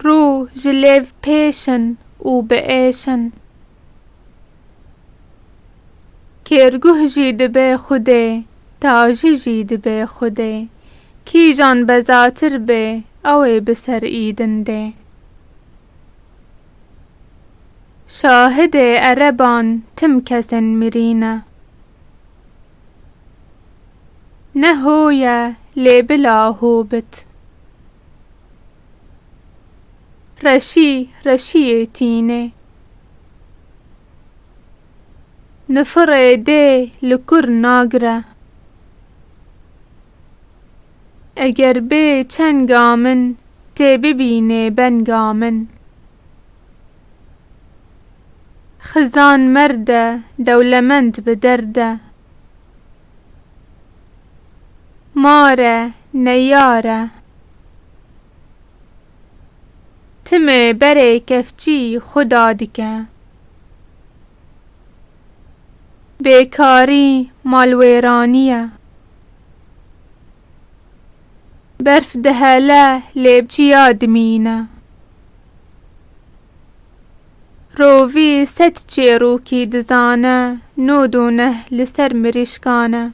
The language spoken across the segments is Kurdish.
Rû ji lêv pêşin û biêşin. Kêrguh jî dibe xwedê, tajî jî dibe xwedê. Kîjan bezatir bê, ew ê bi ser îdin dê. Şahidê ereban tim kesên mirî ne. Ne ho ye lê bila ho bit. Reşî reşîyê tînê. Nifirê dê li kur nagire. Eger bê çenga min tê bibînê benga min. Xizan merde dewlemend bi derde. Mare neyare. Timê berê kevçî xwe da dike. Bêkarî malwêranî ye. Berf dihele lê çiya dimîne. Rovî sed çêrokî dizane, no do neh li ser mirîşkan e.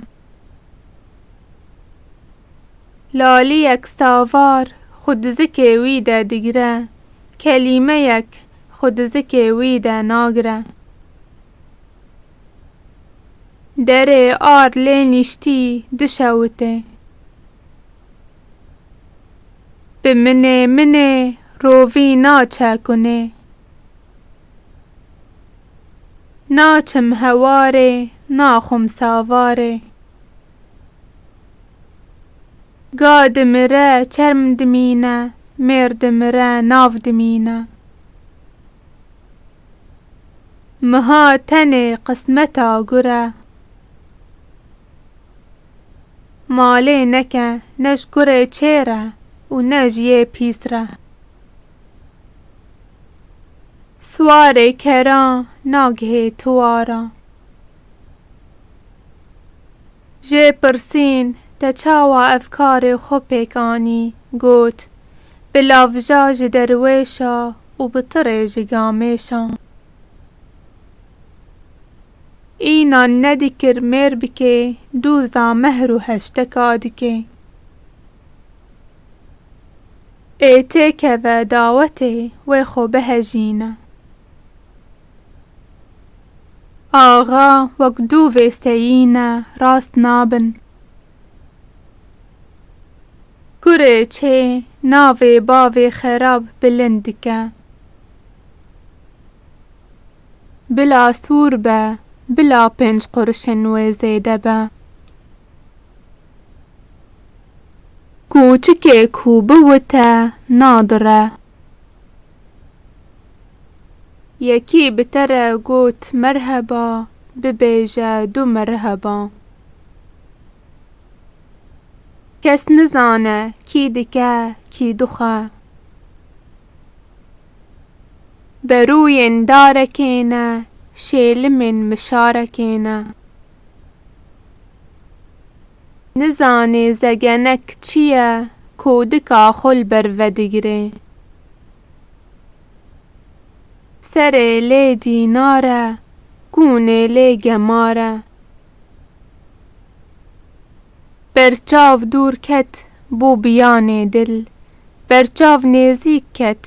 Laliyek savar xwe di zikê wî de digire, kelîmeyek xwe di zikê wî de nagire. Derê ar lê nîştî dişewite. Bi minê minê rovî naçe kunê. Naçim hewarê naxwim savarê. Ga dimire çerm dimîne mêr dimire nav dimîne. Miha tenê qismeta gure. Malê neke ne ji kurê çêr e û ne ji yê pîs re. Siwarê kera nagihê tiwara. Jê pirsîn te çawa ev karê xwe pêk anî, got, Bi lavja ji derwêşa û bi tirê ji gamêşa. Înan nedikir mêr bikê, dûza mehr û heşteka dikê. Ê têkeve dawetê wê xwe bihejîne. Axa wek dûvê seyîne rast nabin. Kurê çê navê bavê xerab bilind dike. Bila sor be, bila pênc qurişên wê zêde be. Kûçikê ku biwite nadire. Yekî bi te re got merheba, bibêje du merheba. Kes nizane kî dike, kî dixe. Berûyên darekê ne, şêlimên mişarekê ne. Nizanê zegenek çi ye, kodika xwe li ber vedigire. Serê lê dînar e, kûnê lê gemar e. Berçav dûr ket, bû biyanê dil, Berçav nêzîk ket,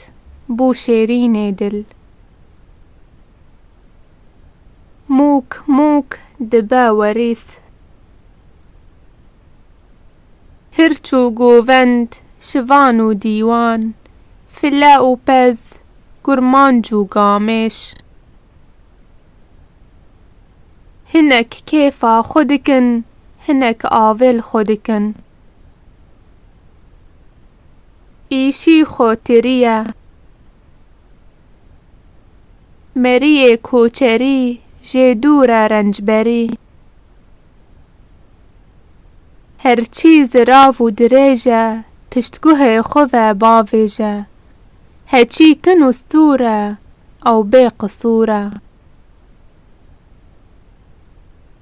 bû şêrînê dil. Mûk mûk dibe werîs. Hirç û govend, şivan û dîwan, File û pez, kurmanc û gamêş. Hinek kêfa xwe dikin, hinek avê li xwe dikin. Îşî xwe tirî ye. Meriyê koçerî jê dûr e rencberî. Her çî zirav û dirêj e, piştguhê xwe ve bavêje, He çî kin ustûr e, ew bê qisûr e.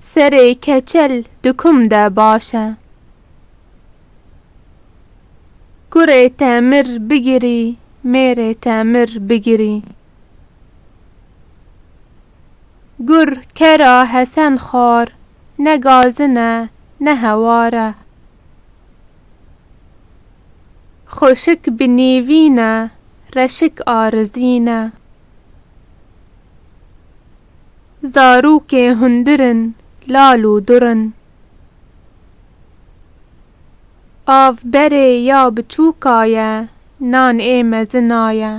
Serê keçel di kum de baş e. Kurê te mir bigirî, mêrê te mir bigirî. Kur kera hesen xwar, ne gazin e, ne hewar e. Xweşik bi nîvî ne, reşik arizî ne. Zarokê hundir in, lal û dur in. Av berê ya biçûka ye, nan ê mezina ye.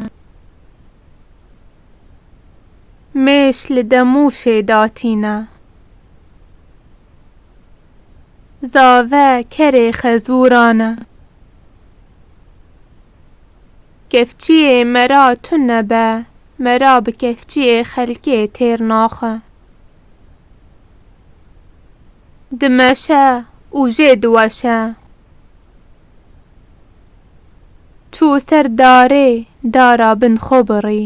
Mêş li demûşê datîne. Zave kerê xezûran e. Kefçiyê me ra tu nebe, me ra bi kefçiyê xelkê têr naxe. Dimeşe û jê diweşe. Çû ser darê dara bin xwe birî.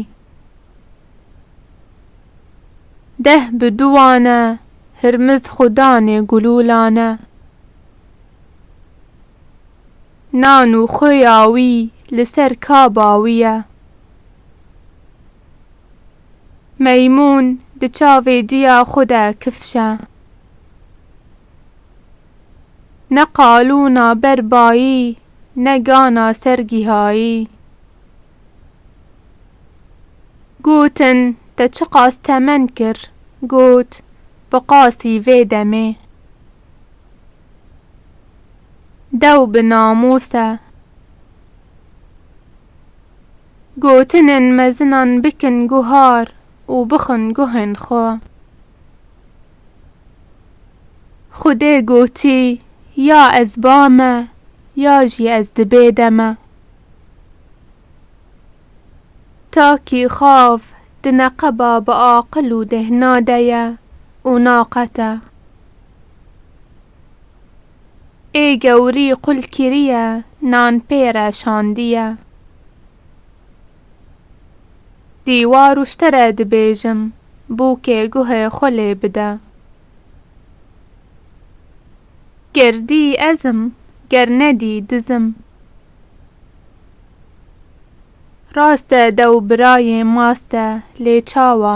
Deh bi duwane hirmiz xwe danê gulûlane. Nan û xuya wî li ser kaba wî ye. Meymûn di çavê diya xwe de kifşe. Ne qalûna ber bayî ne gana ser gihayî. Gotin, Te çiqas temen kir? Got, Bi qasî vê demê. Dew bi namos e. Gotinên mezinan bikin guhar û bixwin guhên xwe. Xwedê gotî, Ya ez ba me, ya jî ez di bê de me. Takî xav di neqeba bi aqil û dehna de ye û naqete. Ê gewrî qul kiriye nan pê re şandiye. Dîwar û şte re dibêjim bûkê guhê xwe lê bide. Ger dî ezim ger nedî dizim. Rast e dew birayê mast e lê çawa?